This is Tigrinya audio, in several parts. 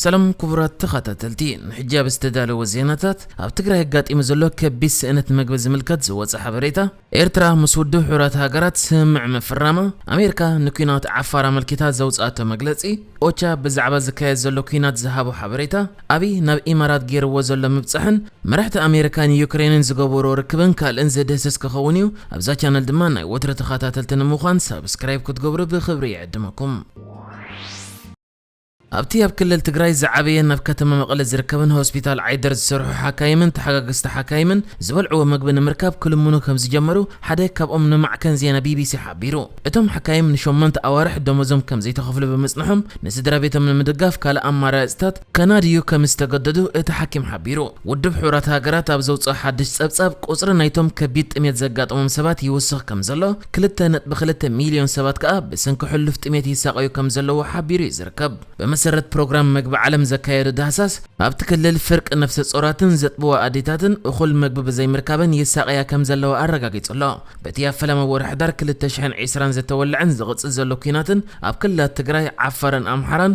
ሰላም ኩቡራት ተኻታተልቲ ንሕጂ ኣብ ዝተዳለወ ዜናታት ኣብ ትግራይ ኣጋጢሙ ዘሎ ከቢድ ስእነት መግቢ ዝምልከት ዝወጸ ሓበሬታ ኤርትራ ምስ ውድብ ሕቡራት ሃገራት ስምምዕ ምፍራማ ኣሜርካ ንኲናት ዓፋር ኣመልኪታ ዘውጽኣቶ መግለጺ ኦቻ ብዛዕባ ዝካየድ ዘሎ ኲናት ዝሃቦ ሓበሬታ ኣብይ ናብ ኢማራት ጌርዎ ዘሎ ምብጻሕን መራሕቲ ኣሜርካን ዩክሬንን ዝገበርዎ ርክብን ካልእን ዝድህስስ ክኸውን እዩ ኣብዛ ቻነል ድማ ናይ ወትሩ ተኻታተልቲ ንምዃን ሳብስክራይብ ክትገብሩ ብኽብሪ ይዕድመኩም። ኣብቲ ኣብ ክልል ትግራይ ዝዓበየን ኣብ ከተማ መቐለ ዝርከብን ሆስፒታል ዓይደር ዝሰርሑ ሓካይምን ተሓጋገዝቲ ሓካይምን ዝበልዕዎ ምግቢ ንምርካብ ክልምኑ ከምዝጀመሩ ሓደ ካብኦም ንማዕከን ዜና ቢቢሲ ሓቢሩ። እቶም ሓካይም ንሸሞንተ ኣዋርሕ ደሞዞም ከምዘይተኸፍሉ ብምጽንሖም ንስድራቤቶም ንምድጋፍ ካልእ ኣማራጺታት ከናድዩ ከምዝተገደዱ እቲ ሓኪም ሓቢሩ። ውድብ ሕቡራት ሃገራት ኣብ ዘውጽኦ ሓድሽ ጸብጻብ፣ ቁጽሪ ናይቶም ከቢድ ጥሜት ዘጋጠሞም ሰባት ይውስኽ ከም ዘሎ፣ ክልተ ነጥቢ ክልተ ሚልዮን ሰባት ከኣ ብስንኪ ሕሉፍ ጥሜት ይሳቐዩ ከም ዘለዉ ሓቢሩ እዩ ዝርከብ። ብመሰረት ፕሮግራም መግቢ ዓለም ዘካየዶ ዳህሳስ፣ ኣብቲ ክልል ፍርቂ ነፍሰጾራትን ዘጥብዋ ኣዴታትን እኹል መግቢ ብዘይምርካበን ይሳቐያ ከም ዘለዋ ኣረጋጊጹ ኣሎ። በቲ ኣብ ፈለማ ወርሒ ሕዳር ክልተ ሽሕን ዕስራን ዝተወልዐን ዝቕጽል ዘሎ ኲናትን ኣብ ክልላት ትግራይ፣ ዓፋርን ኣምሓራን፣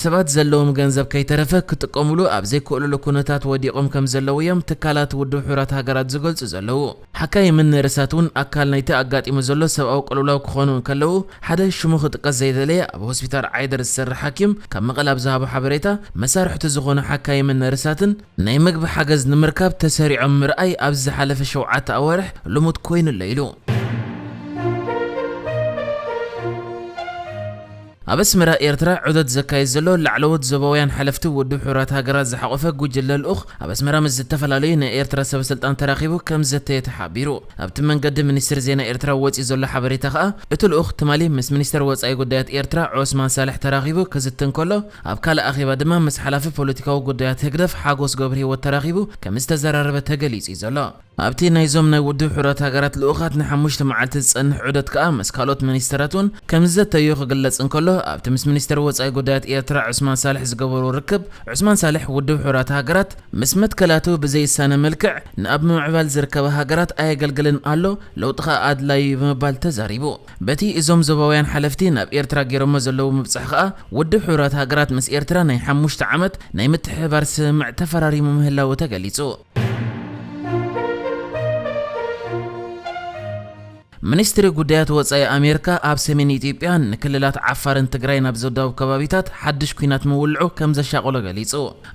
ሰባት ዘለዎም ገንዘብ ከይተረፈ ክጥቀሙሉ ኣብ ዘይክእሉሉ ኩነታት ወዲቖም ከም ዘለዉ እዮም ትካላት ውድብ ሕቡራት ሃገራት ዝገልጹ ዘለዉ። ሓካይምን ነርሳት እውን ኣካል ናይቲ ኣጋጢሙ ዘሎ ሰብኣዊ ቅልውላው ክኾኑ እንከለዉ፣ ሓደ ሽሙ ክጥቀስ ዘይደለየ ኣብ ሆስፒታል ዓይደር ዝሰርሕ ሓኪም ካብ መቐለ ኣብ ዝሃቦ ሓበሬታ፣ መሳርሕቱ ዝኾኑ ሓካይምን ነርሳትን፣ ናይ መግቢ ሓገዝ ንምርካብ ተሰሪዖም ምርኣይ ኣብዚ ዝሓለፈ ሸውዓተ ኣዋርሕ ልሙድ ኮይኑ ኣሎ ኢሉ። ኣብ ኣስመራ ኤርትራ ዑደት ዘካይድ ዘሎ ላዕለዎት ዞባውያን ሓለፍቲ ውድብ ሕቡራት ሃገራት ዝሓቖፈ ጉጅለ ልኡኽ ኣብ ኣስመራ ምስ ዝተፈላለዩ ናይ ኤርትራ ሰበስልጣን ተራኺቡ ከም ዝዘተየ ተሓቢሩ። ኣብቲ መንገዲ ሚኒስትሪ ዜና ኤርትራ ወጺኡ ዘሎ ሓበሬታ ከኣ እቲ ልኡኽ ትማሊ ምስ ሚኒስተር ወጻኢ ጉዳያት ኤርትራ ዖስማን ሳልሕ ተራኺቡ ክዝቲ እንከሎ ኣብ ካልእ ኣኼባ ድማ ምስ ሓላፊ ፖለቲካዊ ጉዳያት ህግደፍ ሓጎስ ገብርሂወት ተራኺቡ ከም ዝተዘራረበ ተገሊጹ'ዩ ዘሎ። ኣብቲ ናይዞም ናይ ውድብ ሕቡራት ሃገራት ልኡኻት ንሓሙሽተ መዓልቲ ዝጸንሕ ዑደት ከኣ ምስ ካልኦት ሚኒስተራት'ውን ከምዝዘተዩ ክግለጽ እንከሎ፣ ኣብቲ ምስ ሚኒስተር ወጻኢ ጉዳያት ኤርትራ ዑስማን ሳልሕ ዝገበርዎ ርክብ፣ ዑስማን ሳልሕ ውድብ ሕቡራት ሃገራት ምስ መትከላቱ ብዘይሳነ መልክዕ ንኣብ ምምዕባል ዝርከባ ሃገራት ኣየገልግልን ኣሎ፣ ለውጢ ከኣ ኣድላዪ'ዩ ብምባል ተዛሪቡ። በቲ እዞም ዞባውያን ሓለፍቲ ናብ ኤርትራ ገይሮሞ ዘለዉ ምብጻሕ ከኣ፣ ውድብ ሕቡራት ሃገራት ምስ ኤርትራ ናይ ሓሙሽተ ዓመት ናይ ምትሕብባር ስምምዕ ተፈራሪሙ ምህላዉ ተገሊጹ። ሚኒስትሪ ጉዳያት ወፃኢ ኣሜሪካ ኣብ ሰሜን ኢትዮጵያ ንክልላት ዓፋርን ትግራይን ኣብ ዘዳውብ ከባቢታት ሓድሽ ኲናት ምውልዑ ከም ዘሻቐሎ ገሊጹ።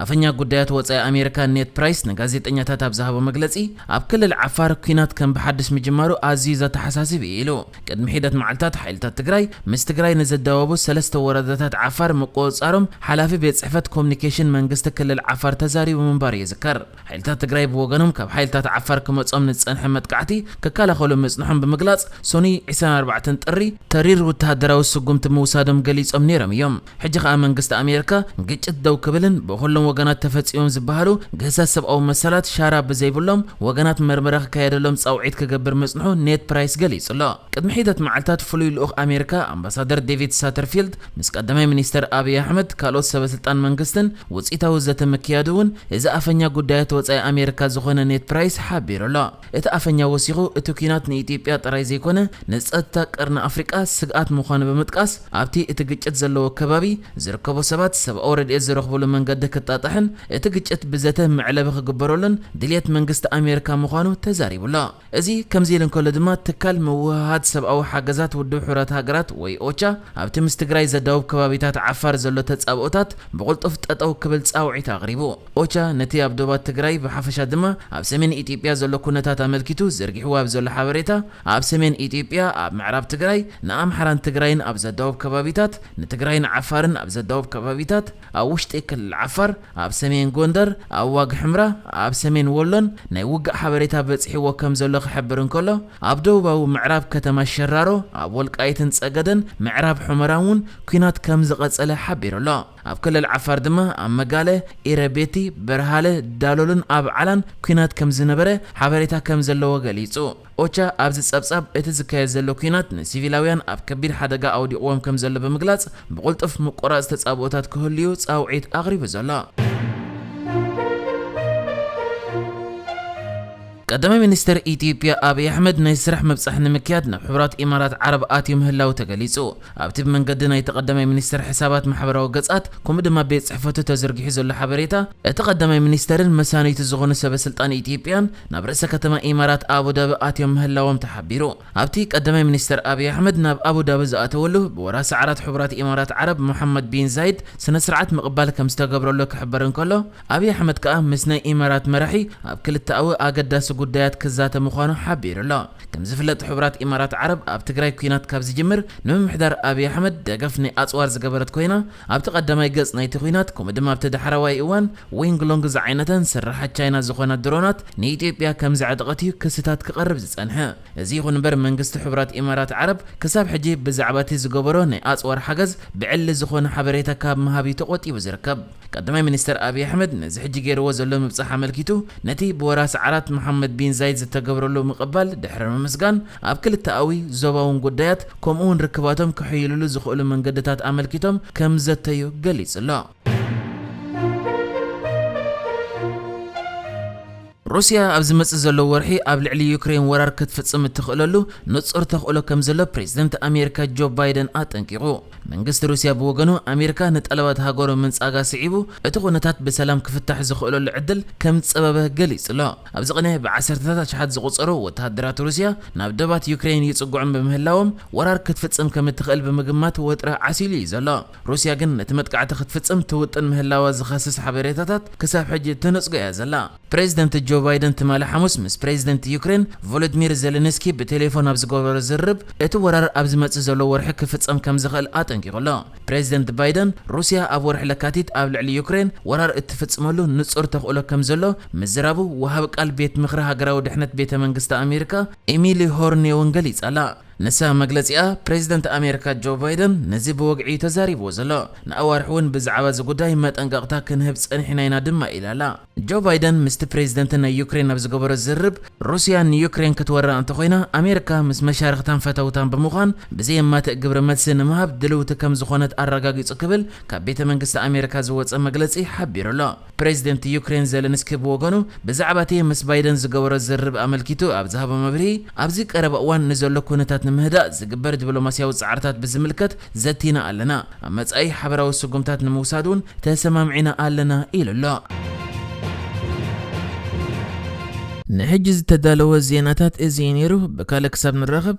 ኣፈኛ ጉዳያት ወፃኢ ኣሜሪካ ኔድ ፕራይስ ንጋዜጠኛታት ኣብ ዝሃቦ መግለጺ፣ ኣብ ክልል ዓፋር ኲናት ከም ብሓድሽ ምጅማሩ ኣዝዩ ዘተሓሳስብ እዩ ኢሉ። ቅድሚ ሒደት መዓልታት ሓይልታት ትግራይ ምስ ትግራይ ንዝዳወቡ ሰለስተ ወረዳታት ዓፋር ምቁፅፃሮም ሓላፊ ቤት ፅሕፈት ኮሙኒኬሽን መንግስቲ ክልል ዓፋር ተዛሪቡ ምንባሩ ይዝከር። ሓይልታት ትግራይ ብወገኖም ካብ ሓይልታት ዓፋር ክመፆም ንዝፀንሐ መጥቃዕቲ ክከላኸሉ ምፅንሖም ብምግላፅ ሰኑይ ዕስራን ኣርባዕተን ጥሪ ተሪር ወተሃደራዊ ስጉምቲ ምውሳዶም ገሊፆም ነይሮም እዮም። ሕጂ ከኣ መንግስቲ ኣሜርካ ግጭት ደው ክብልን ብኹሎም ወገናት ተፈጺሞም ዝበሃሉ ግህሰት ሰብኣዊ መሰላት ሻራ ብዘይብሎም ወገናት መርመራ ክካየደሎም ጻውዒት ክገብር ምጽንሑ ኔድ ፕራይስ ገሊጹ'ሎ። ቅድሚ ሒደት መዓልታት ፍሉይ ልኡኽ ኣሜርካ ኣምባሳደር ዴቪድ ሳተርፊልድ ምስ ቀዳማይ ሚኒስተር ኣብይ ኣሕመድ ካልኦት ሰበስልጣን መንግስትን ውጽኢታዊ ዘተ ምክያዱ እውን እዚ ኣፈኛ ጉዳያት ወጻኢ ኣሜርካ ዝኾነ ኔድ ፕራይስ ሓቢሩ'ሎ። እቲ ኣፈኛ ወሲኹ፣ እቲ ኲናት ንኢትዮጵያ ጥራይ ዘይኮነ ንጸጥታ ቀርኒ ኣፍሪቃ ስግኣት ምዃኑ ብምጥቃስ፣ ኣብቲ እቲ ግጭት ዘለዎ ከባቢ ዝርከቡ ሰባት ሰብኣዊ ረድኤት ዝረኽብሉ መንገዲ ክጣጣሕን እቲ ግጭት ብዘተ መዕለቢ ክግበረሉን ድልየት መንግስቲ ኣሜሪካ ምዃኑ ተዛሪቡ'ሎ። እዚ ከምዚ ኢሉ እንከሎ ድማ ትካል ምውህሃድ ሰብኣዊ ሓገዛት ውድብ ሕቡራት ሃገራት ወይ ኦቻ ኣብቲ ምስ ትግራይ ዘዳውብ ከባቢታት ዓፋር ዘሎ ተጻብኦታት ብቕልጡፍ ጠጠው ክብል ጻውዒት ኣቕሪቡ። ኦቻ ነቲ ኣብ ዶባት ትግራይ ብሓፈሻ ድማ ኣብ ሰሜን ኢትዮጵያ ዘሎ ኩነታት ኣመልኪቱ ዘርጊሕዎ ኣብ ዘሎ ሓበሬታ፣ ኣብ ሰሜን ኢትዮጵያ ኣብ ምዕራብ ትግራይ ንኣምሓራን ትግራይን ኣብ ዘዳውብ ከባቢታት፣ ንትግራይን ዓፋርን ኣብ ዘዳውብ ከባቢታት፣ ኣብ ውሽጢ ክልል ዓፋር፣ ኣብ ሰሜን ጎንደር፣ ኣብ ዋግ ሕምራ፣ ኣብ ሰሜን ወሎን ናይ ውግእ ሓበሬታ በጺሕዎ ከም ዘሎ ክሕብር እንከሎ፣ ኣብ ደቡባዊ ምዕራብ ከተማ ሸራሮ፣ ኣብ ወልቃይትን ጸገደን ምዕራብ ሑመራን እውን ኲናት ከም ዝቐጸለ ሓቢሩ ኣሎ። ኣብ ክልል ዓፋር ድማ ኣብ መጋለ፣ ኢረቤቲ፣ በርሃለ፣ ዳሎልን ኣብዓላን ኲናት ከም ዝነበረ ሓበሬታ ከም ዘለዎ ገሊጹ። ኦቻ ኣብዚ ጸብጻብ እቲ ዝካየድ ዘሎ ኲናት ንሲቪላውያን ኣብ ከቢድ ሓደጋ ኣውዲቕዎም ከም ዘሎ ብምግላጽ ብቕልጡፍ ምቁራጽ ተጻብኦታት ክህሉ'ዩ ጻውዒት ኣቕሪቡ ዘሎ። ቀዳማይ ሚኒስተር ኢትዮጵያ ኣብይ ኣሕመድ ናይ ስራሕ ምብጻሕ ንምክያድ ናብ ሕቡራት ኢማራት ዓረብ ኣትዩ ምህላዉ ተገሊጹ። ኣብቲ ብመንገዲ ናይቲ ቀዳማይ ሚኒስተር ሕሳባት ማሕበራዊ ገጻት ከምኡ ድማ ቤት ጽሕፈቱ ተዘርጊሑ ዘሎ ሓበሬታ፣ እቲ ቀዳማይ ሚኒስተርን መሳንይቱ ዝኾኑ ሰበ ስልጣን ኢትዮጵያን ናብ ርእሰ ከተማ ኢማራት ኣቡዳቢ ኣትዮም ምህላዎም ተሓቢሩ። ኣብቲ ቀዳማይ ሚኒስተር ኣብይ ኣሕመድ ናብ ኣቡዳቢ ዝኣተወሉ ብወራሲ ዓራት ሕቡራት ኢማራት ዓረብ ሞሓመድ ቢን ዛይድ ስነስርዓት ምቕባል ከምዝተገብረሉ ክሕበር እንከሎ፣ ኣብይ ኣሕመድ ከኣ ምስ ናይ ኢማራት መራሒ ኣብ ክልተኣዊ ኣገዳሲ ጉዳያት ክዛተ ምዃኑ ሓቢሩ'ሎ። ከምዝፍለጥ ሕቡራት ኢማራት ዓረብ ኣብ ትግራይ ኲናት ካብ ዝጅምር ንምምሕዳር ኣብይ ኣሕመድ ደገፍ ናይ ኣጽዋር ዝገበረት ኮይና፣ ኣብቲ ቀዳማይ ገጽ ናይቲ ኲናት ከምኡ ድማ ኣብቲ ዳሕረዋይ እዋን ዊንግ ሎንግ ዝዓይነተን ስርሓት ቻይና ዝኾና ድሮናት ንኢትዮጵያ ከምዘዕጠቐት እዩ ክስታት ክቐርብ ዝጸንሐ። እዚ ይኹን እምበር መንግስቲ ሕቡራት ኢማራት ዓረብ ክሳብ ሕጂ ብዛዕባ እቲ ዝገበሮ ናይ ኣጽዋር ሓገዝ ብዕሊ ዝኾነ ሓበሬታ ካብ ምሃብ እዩ ተቖጢቡ ዝርከብ። ቀዳማይ ሚኒስተር ኣብይ ኣሕመድ ነዚ ሕጂ ገይርዎ ዘሎ ምብጻሕ ኣመልኪቱ ነቲ ብወራስ ዓራት መሓመድ ቢን ዛይድ ዝተገብረሉ ምቕባል ድሕሪ ምምስጋን ኣብ ክልተኣዊ፣ ዞባውን ጉዳያት ከምኡ'ውን ርክባቶም ከሕይልሉ ዝኽእሉ መንገድታት ኣመልኪቶም ከምዘተዩ ገሊጹ'ሎ። ሩስያ ኣብ ዝመጽእ ዘሎ ወርሒ ኣብ ልዕሊ ዩክረይን ወራር ክትፍጽም እትኽእለሉ ንጹር ተኽእሎ ከም ዘሎ ፕሬዝደንት ኣሜሪካ ጆ ባይደን ኣጠንቂቑ። መንግስቲ ሩስያ ብወገኑ ኣሜሪካ ንጠለባት ሃገሩ ምንጻጋ ስዒቡ እቲ ኩነታት ብሰላም ክፍታሕ ዝኽእለሉ ዕድል ከም ዝጸበበ ገሊጹ'ሎ። ኣብዚ ቅነ ብዓሰርተታት ኣሽሓት ዝቑጸሩ ወተሃደራት ሩስያ ናብ ዶባት ዩክረይን ይጽግዑ ብምህላዎም ወራር ክትፍጽም ከም እትኽእል ብምግማት ወጥሪ ዓሲሉ እዩ ዘሎ። ሩስያ ግን ነቲ መጥቃዕቲ ክትፍጽም ትውጥን ምህላዋ ዝኸስስ ሓበሬታታት ክሳብ ሕጂ ትነጽጎ እያ ዘላ። ፕረዚደንት ጆ ባይደን ትማሊ ሓሙስ ምስ ፕረዚደንት ዩክሬን ቮሎድሚር ዘለንስኪ ብቴሌፎን ኣብ ዝገበሮ ዝርርብ እቲ ወራር ኣብ ዝመጽእ ዘሎ ወርሒ ክፍጸም ከም ዝኽእል ኣጠንቂቑ ኣሎ። ፕረዚደንት ባይደን ሩስያ ኣብ ወርሒ ለካቲት ኣብ ልዕሊ ዩክሬን ወራር እትፍጽመሉ ንጹር ተኽእሎ ከም ዘሎ ምዝራቡ ወሃቢ ቃል ቤት ምኽሪ ሃገራዊ ድሕነት ቤተ መንግስቲ ኣሜሪካ ኤሚሊ ሆርኔውን ገሊጻ ኣላ። ንሳ መግለጺኣ፣ ፕሬዚደንት ኣሜሪካ ጆ ባይደን ነዚ ብወግዒ እዩ ተዛሪብዎ ዘሎ። ንኣዋርሕ እውን ብዛዕባ እዚ ጉዳይ መጠንቀቕታ ክንህብ ጸኒሕና ኢና ድማ ኢላ ኣላ። ጆ ባይደን ምስቲ ፕሬዚደንት ናይ ዩክሬን ኣብ ዝገበሮ ዝርርብ፣ ሩስያ ንዩክሬን ክትወራ እንተኾይና ኣሜሪካ ምስ መሻርኽታን ፈተውታን ብምዃን ብዘየማትእ ግብረ መልሲ ንምሃብ ድልውቲ ከምዝኾነት ኣረጋጊጹ ክብል ካብ ቤተ መንግስቲ ኣሜሪካ ዝወጸ መግለጺ ሓቢሩ ኣሎ። ፕረዚደንት ዩክሬን ዘለንስኪ ብወገኑ ብዛዕባ'ቲ ምስ ባይደን ዝገበሮ ዝርርብ ኣመልኪቱ ኣብ ዝሃቦ መብርሂ፣ ኣብዚ ቀረባ እዋን ንዘሎ ኵነታት ንምህዳእ ዝግበር ዲፕሎማስያዊ ጻዕርታት ብዝምልከት ዘቲና ኣለና፣ ኣብ መጻኢ ሓበራዊ ስጕምታት ንምውሳድ'ውን ተሰማሚዕና ኣለና ኢሉ ኣሎ። ንሕጂ ዝተዳለወ ዜናታት እዚ እዩ ነይሩ፣ ብካልእ ክሳብ ንራኸብ!